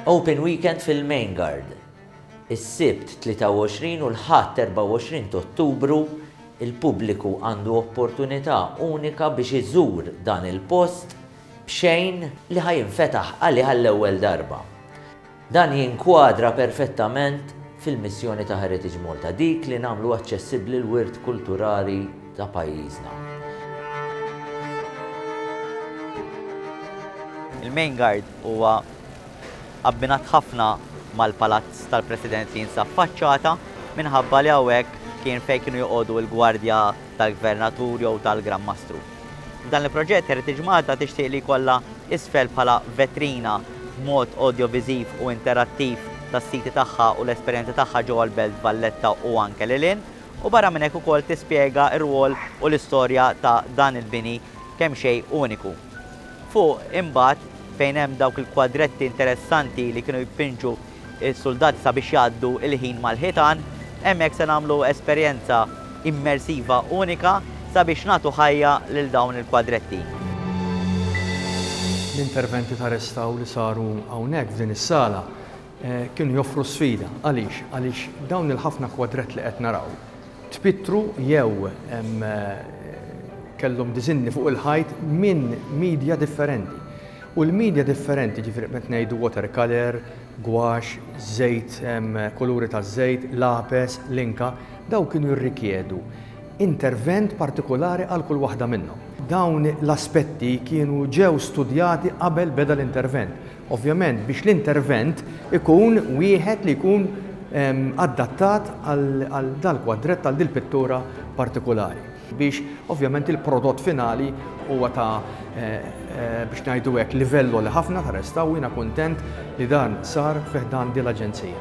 Open Weekend fil-Main Guard, Is-Sibt 23 u l-Ħadd 24 t'Ottubru, il-pubbliku għandu opportunità unika biex iżur dan il-post b'xejn li ħa jinfetaħ għalih għall-ewwel darba. Dan jinkwadra perfettament fil-missjoni ta' Heritage Malta, dik li nagħmlu aċċessibbli l-wirt kulturali ta' pajjiżna. Il-Main Guard huwa abbinat ħafna mal-Palazz tal-President li jinsab f'faċċata minħabba li hawnhekk kien fejn kienu joqogħdu l-gwardja tal-Gvernatur jew tal-Gran Mastru. F'dan il-proġett Heritage Malta tixtieq li jkollha isfel bħala vetrina b'mod awdjoviżiv u interattiv tas-siti tagħha u l-esperjenzi tagħha ġewwa l-Belt Valletta u anke lil hinn u barra minn hekk ukoll tispjega r-rwol u l-istorja ta' dan il-bini kemm xejn uniku. Fuq imbagħad fejn hemm dawk il-kwadretti interessanti li kienu jpinġu is-suldati sabiex jgħaddu l-ħin mal-ħitan. Hemmhekk se nagħmlu esperjenza immersiva unika sabiex nagħtu ħajja lil dawn il-kwadretti. L-interventi ta' restawr li saru hawnhekk f'din is-sala kienu joffru sfida. Għaliex? Għaliex dawn il-ħafna kwadrett li qed naraw, tpittru jew kellhom diżinni fuq il-ħajt minn media differenti. U l-media differenti, jiġifieri qed ngħidu watercolour, gwaxx, żejt, kuluri taż-żejt, lapes, linka, dawn kienu jirrikjedu intervent partikulari għal kull waħda minnhom. Dawn l-aspetti kienu ġew studjati qabel beda l-intervent. Ovvjament biex l-intervent ikun wieħed li jkun adattat għal dal-kwadrett, għal dil-pittura partikulari. Biex ovvjament il-prodott finali huwa ta' biex ngħidu hekk livell għoli ħafna ta' restawr u jiena kuntent li dan sar fi ħdan dil-Aġenzija.